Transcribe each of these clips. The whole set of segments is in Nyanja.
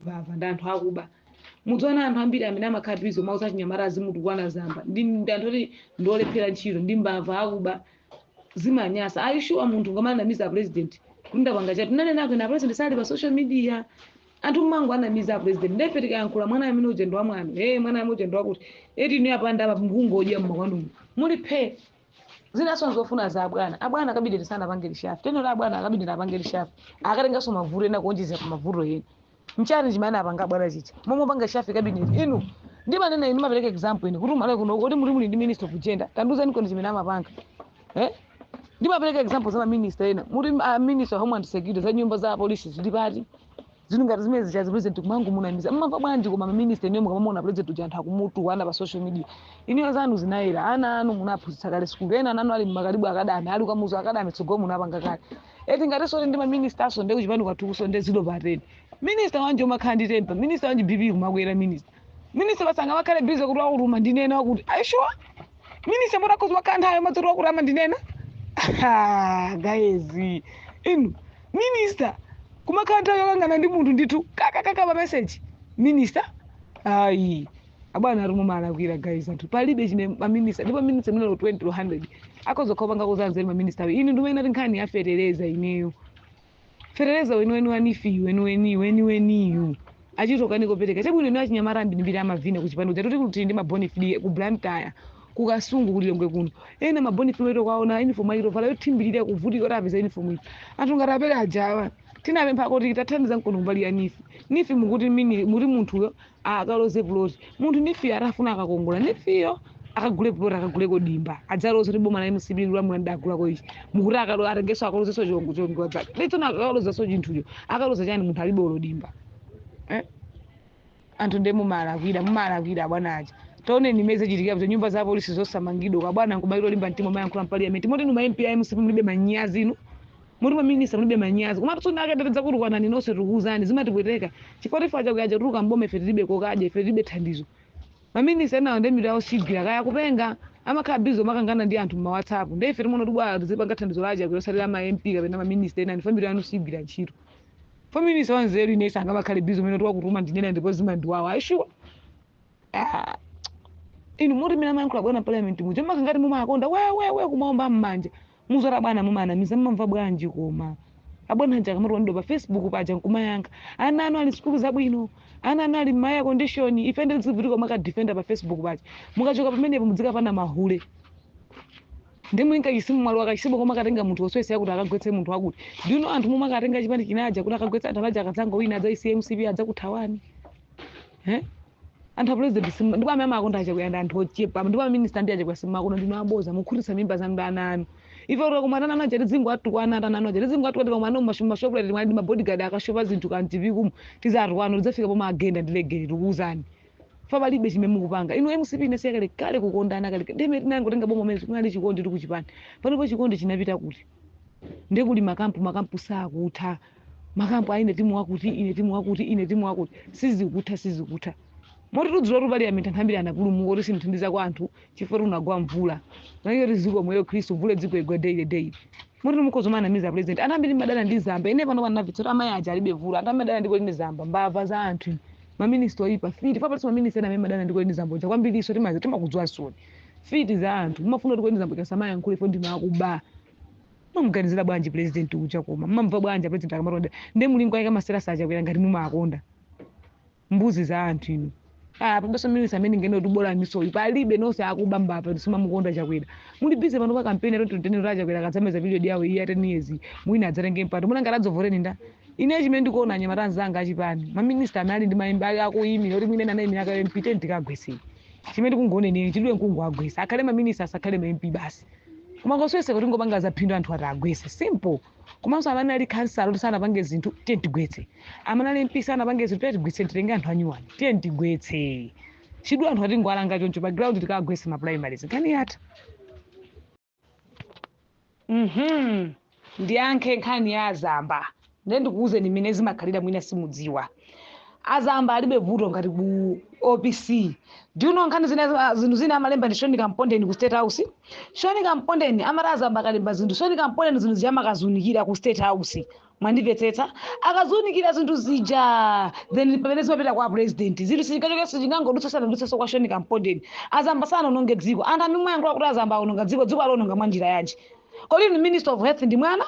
mbava ndi anthu akuba mudziona anthu ambiri amene amakhala busy kumauza achinyamata azimutukwana zaumbava ndi ndi anthu oti ndiolephera ntchito ndi mbava akuba zimanyasa are you sure munthu ungamanamize a president kundapanga chatu nanena kwena president sali pa social media anthu mmangowanamiza a president nde ife tikayankhula mwana amene uja ndi wa mwana eh mwana amene uja ndi wakuti eti ni apanda apa mkungodya mmakwanumu muli phe zinaso nzofuna za abwana a cabinet sanapange reshuffle teno la abwana a cabinet apange reshuffle akatengaso mavuto ena kuonjezera pa mavuto ena nchani chimene apanga abwana chicha momwe apanga reshuffle cabinet inu ndimanena inu ndimapereka example ine kuti ku Malawi kuno kuti muli muli ndi minister of gender tandiuzani kweni chimene amapanga eh ndimapereka example za maminista ena muti a minister of homeland security za nyumba za apolisi zili pati zinthu ngati zimene zija president kumangomunamiza mumamva bwanji koma maminista inuyo mukamamuona president uja anthu akumutukwana pa social media inuyo zanu zinayera ana anu munaphunzitsa kale sukulu ena ananu ali m'ma Kalibu Academy ali ku Kamuzu Academy tsogolo munapanga kale eti ngatinso kuti ndi maministanso nde kuchipani kwathukuso nde zero pa ten minista wanji umakhala ndi tempa minista wanji bp kumakwera minista Minister basi angamakhale busy kuti wakuti umandinena wakuti. Are you sure? Minister m'boma akhoza kukhala nthawi yomati wakuti amandinena? Ah, guys. Inu, minister kumakhala nthawi yokangana ndi munthu ndithu kakakaka pa message. Minister? Ayi. Abwana ati mumalakwira guys anthu palibe chimene ma minister ndipo minister amene lo 20 lo 100 akhoza kupanga zanzeru ma minister awo inu ndimene ati nkhani ya fetereza ineyo fetereza weniweni wa NEEF weniweni weniweniyu achita kukanika kupereka chabwino ino achinyamata ambirimbiri amavina kuchipani kuja toti kuti ndi ma bona fide ku blantyre ku kasungu ku Lilongwe kuno ena ma bona fide oti ukawaona uniform achita kuvala yothimbirira kuvutika kuti apeze uniform iyi anthu ngati a Peter ajawa tinapempha kuti tathandizaniko kumbali ya NEEF NEEF mukuti mini muti munthuyo akaloze puloti munthu NEEF-yo atafuna akakongola NEEF-yo akagule puloti akaguleko dimba adzaloze kuti boma la mcp likulamula ndinagulako ichi mukuti akalo atengeso akalozeso chongo chongo dzake letsona akalozeso chinthucho akaloza chani munthu alibe olo dimba eh? anthu ndiye mumalakwira mumalakwira abwana aja taoneni mmene zichitikira kuti nyumba za polisi zosamangidwa kwa bwana nkumalimba mtima kumayankhula mpaliyamenti moti inu ma mp a mcp mulibe manyazi inu Moti ma minister mulibe manyazi. Komatu soon ake tidzakutukwanani nonse tikukuuzani. Zimatipweteka. Chifukwa ife a Chakwera aja kutuluka m'boma ife tilibe kokadya, ife tilibe thandizo. Ma minister enawa nde mitu yawo sigwira. Kaya akupenga, amakhala busy kumakangana ndi anthu m'ma whatsapp. Nde ife timaona kuti bwanji tizipanga thandizo la a Chakwera osati la ma MP kapena ma minister enanu chifukwa mitu yanu sigwira ntchito. Fo minister wanzeru ine sangamakhale busy kumanena kuti wakuti amandinena ndipo zimandiwawa. Are you sure? Ah, inu moti mmene amayankhula abwana parliament muja mumakhala ngati mumawakonda wewewe kumaomba mmanja muzora bwana mumanamiza mmamva bwanji koma abwana aja akamatukwanidwa pa facebook paja nkumayankha ana anu ali sikulu zabwino ana anu ali mma air condition ife tizivutika kumakadifenda pa facebook paja mukachoka pamenepo mudzikapana mahule ndi mulinga chisimu mwalo akachisimu koma akatenga munthu woswese yakuti akagwetse munthu wakuti ndino anthu momwe akatenga chipani chinaja kuti akagwetsa anthu aja akadzanga wina adzaisiye mcp adzakuthawani Eh? anthu a president simu- ndipo amene amakonda achakwera ndi anthu ochepa ndipo aminista ndi achakwera simumawakonda ndinu aboza mukukhutitsa mimba zanu ndi ana anu ife tikakumana ndi ana anu aja tidzingowatukwana ana anu aja tidzingowatukwana tikakumana mumashoprite timwana ndi mabodyguard akashopa zinthu kaya mchipiku mu tizawatukwana tidzafika pomawagenda ndi legeni tikuwuzani ife palibe chimene mukupanga inu mcp inasiya kale kale kukondana kale ndime tinangotenga boma mene kunali chikondi kuchipani panopo chikondi chinapita kuti ndekuli makampu makampu sakutha makampu aine timu wakuti ine timu wakuti ine timu wakuti sizikutha sizikutha moti dzulo ku parliament anthu ambiri anapulumuka kuti simthandiza kwa anthu chifukwa kunagwa mvula naiyo tiziko mweyo khristu mvula izingogwa daily daily moti mukhoza kumanamiza president anthu ambiri amadana ndi zamba ine pano panavitsota amayi aja alibe vuto anthu amadana ndi colleen zamba mbava za anthu maminista oyipa mfiti papatisa maminista ena amene amadana ndi colleen zamba uja kwambiriso timazi timakudziwa soni mfiti za anthu mumafuna kuti colleen zamba asamayankhule fo ndinu akuba mumamuganizira bwanji president uja koma mumamva bwanji president akamatonda ndi mulingo ayika masera achakwera ngati mumawakonda mbuzi za anthu inu Ah, palibenso minista amene tinganene kuti bola ministayi palibe nonse akuba mbava simumamukonda chakwera muli busy pano pa kampeni ya 2030 kuti achakwera akadzamaliza period yawo iyi ya 10 years mwina adzatenge mpando muona ngati adzakuvotereni ndani ine chimene ndikuona anyamata anzanga achipani maminista amene ali ndi maimba ali akuyimira kuti mwina ena anayimira kau mp tiyeni tikagwese chimene tikungonenera chitidwe nkungowagwesa akhale maminista asakhale ma mp basi koma koswesa kuti ngopanga zaphindu anthu tiwagwese simple komanso amene ali khansala kuti sanapange zinthu tiye tigwetse amene ali mp sanapange zinthu tiye tigwetse titenge anthu anyuwani tiye tigwetse chidwe anthu tingowalanga choncho pa ground tikagwese ma primaries nkhani yatha Mhm. ndiyankhe nkhani ya azamba ndiye ndikuwuzeni mmene zimakhalira mwina simudziwa azamba alibe vuto ngati ku opc do you know nkhani zina za- zinthu zina amalemba ndi Sean kampondeni ku state house Sean kampondeni amati azamba akalemba zinthu Sean kampondeni zinthu zija amakaziunikira ku state house Mwandimvetsetsa? Akaziunikira zinthu zija then ndipamene zimapita kwa president. Zinthu sizingachoke sizingangodutse zisanadutsenso kwa Sean Kampondeni. Azamba sanaononge dziko. Anthu amene mumayankhula kuti azamba aononga dziko, dziko aliononga mwa njira yanji? Kodi inu minister of health ndi mwana?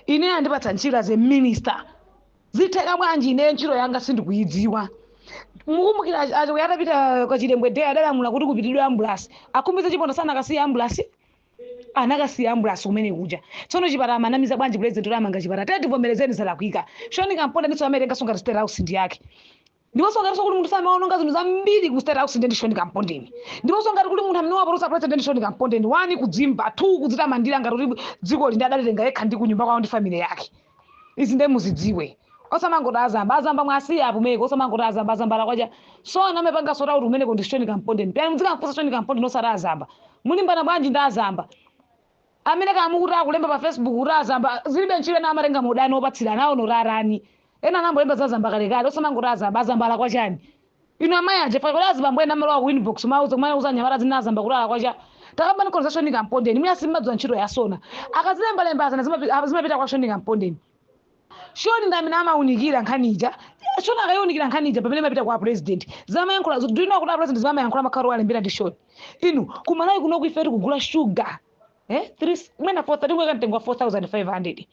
Ineyo andipatsa ntchito as a minister. Zitheka bwanji ineyo ntchito yanga sindikuyidziwa? Mukumbukira achi- achi- atapita kwa Chilembwe Day adalamula kuti kupitidwe ambulasi. A Khumbize Chiponda sanakasiye ambulasi? anakasiya ambulasi kumene kuja tsono chipatala amanamiza bwanji president kuti amanga chipatala tete tivomerezeni zalakwika shoni kampondeni ndiso amaitenga songa state house ndi yake ndiponso ngati kuli munthu amaononga zinthu zambiri ku state house ndi shoni kampondeni ndiponso ngati kuli munthu amene wapolosa president ndi shoni kampondeni one kudzimva two kudzitamandira ngati kuti dziko lino adalitenga yekha ndi kunyumba kwawo ndi family yake izi nde muzidziwe osamangoti azamba azamba muwasiye apumeko osamangoti azamba azamba alakwacha so amene apanga sota kuti umeneko ndi shoni kampondeni pena mudzikamfunsa shoni kampondeni osati azamba mulimbana bwanji ndi azamba amene kamukuti akulemba pa facebook kuti azamba zilibe ntchito ena amatenga maudani opatsirana aonorarani ena anayamba kulemba za azamba kalekale osamangoti azamba azamba alakwa chani Inu amayi a Jeffa kodi azibambo ena amalowa ku inbox kumawauza kumawauza anyamata zina azamba kuti alakwacha takambanikoni za Shoni Kampondeni mwina simmadziwa ntchito ya Sona akazilemba lemba zana zimapi zimapita kwa Shoni Kampondeni Shoni ndi amene amaunikira nkhani ija Shoni akayiunikira nkhani ija pamene imapita kwa president zamayankhula do you know kuti a president zimamayankhula amakhala kuti walembera ndi Shoni inu kumalawi kunoku ife tikugula sugar eh? Three- mwina 4 tikuweka mtengo wa 4500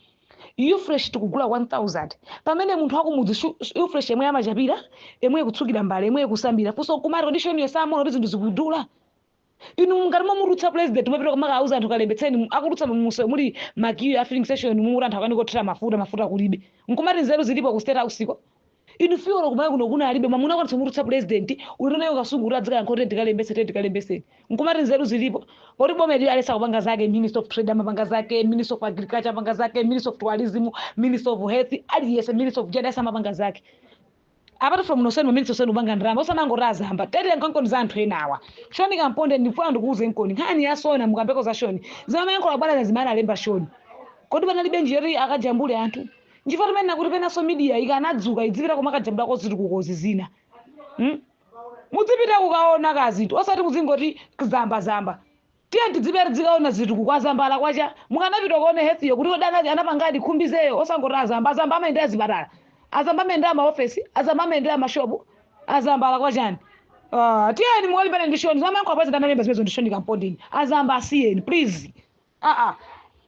ufresh tikugula 1000 pamene munthu akumudzi shu- shu- ufresh yemwe amachapira yemwe kutsukira mbale yemwe kusambira funso nkumati kodi shoniyo samaona kuti zinthu zikudula inu ngati mumutulutsa president mumapita kumakawauza anthu kalembetseni akudutsa mumsewu muli ma queue ya filling station momwe muli anthu akanika kuthira mafuta mafuta kulibe nkumati nzeru zilipo ku state house ko Inu fii olo kumalawi kuno kuna alibe mwamuna okwanitsa kumutulutsa president ulendo naye kukasungu kuti adzikayankha kuti tikalembetse tete tikalembetseni nkumati nzeru zilipo poti boma ili aliyense akupanga zake minister of trade amapanga zake minister of agriculture amapanga zake minister of tourism minister of health aliyense minister of gender amapanga zake apart from nonsenu maminister nonsenu kupanga ndalama osamangoti azamba tete nkonkoni za anthu enawa shoni kampondeni ndifuna ndikuuzenkoni nkhani ya sona mukambeko za shoni zimamayankhula bwana zimene analemba shoni kodi panalibe njira yoti akajambule anthu nchifukwa timanena kuti penanso media ikanadzuka idzipita kumakajambulako zitukukozi zina hmm? mudzipita kukaona kazinthu osati muzingoti zamba zamba tiye tidzipita tidzikaona zitukuko azamba alakwacha mukanapita kuona health yo kuti odana anapangadi khumbizeyo osangoti azamba azamba amayendera zipatala azamba amayendera maofesi azamba amayendera mashopu azamba alakwa chani Ah, tiyeni mukalimbane ndi shoni zamayankhula president analemba zimenezo ndi shoni kampondeni azamba asiyeni please aa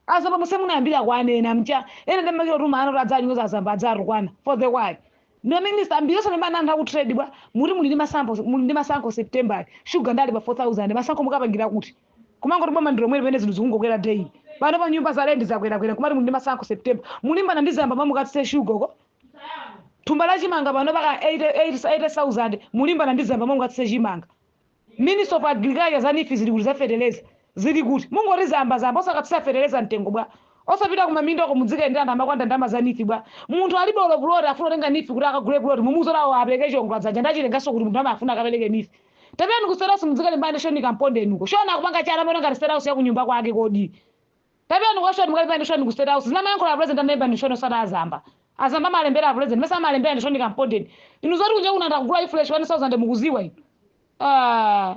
azamba monse munayambira kuwanena muja ena ndimakira kuti maana kuti adzanyoza azamba adzatukwana for the why ndi minister ambiri osalimbana anthu aku trade bwa muti muli ndi masankho muli ndi masankho september sugar nde ali pa 4000 masankho mukapangira kuti kumangoti boma ndi lomweli pamene zinthu zikungokwera day pano pa nyumba za lendi zakwerakwera nkumati muli ndi masankho september mulimbana ndi zamba mukatsitse sugar ko thumba la chimanga pano paka 80,000 mulimbana ndi zamba mukatsitse chimanga Minister of Agriculture za neef zili kuti za feteleza zili kuti? Mungoti zamba zamba osakatsitsa feteleza mtengo bwa? Osapita ku maminda ko mudzikayendera anthu akumakwanda ndalama za neef bwa? Munthu alibe olo puloti afuna tenga neef kuti akagule puloti mumuuze kuti awo apereke chiongola dzanja nde achitenganso kuti munthu amafuna akapereke neef? Tapitani ku state house mudzikalimbana ndi Shoni Kampondeni uko. Shoni akupanga chani amaona ngati state house ya kunyumba kwake kodi? Tapitani kwa shoni mukalimbane ndi shoni ku state house zimene amayankhula a president anaimba ndi shoni osati azamba. Azamba amalembera a president mesa amalembera ndi shoni kampondeni. Inu zoti kunja kuno anthu akugula ifresh 1000 mukuziwa inu. Aaa.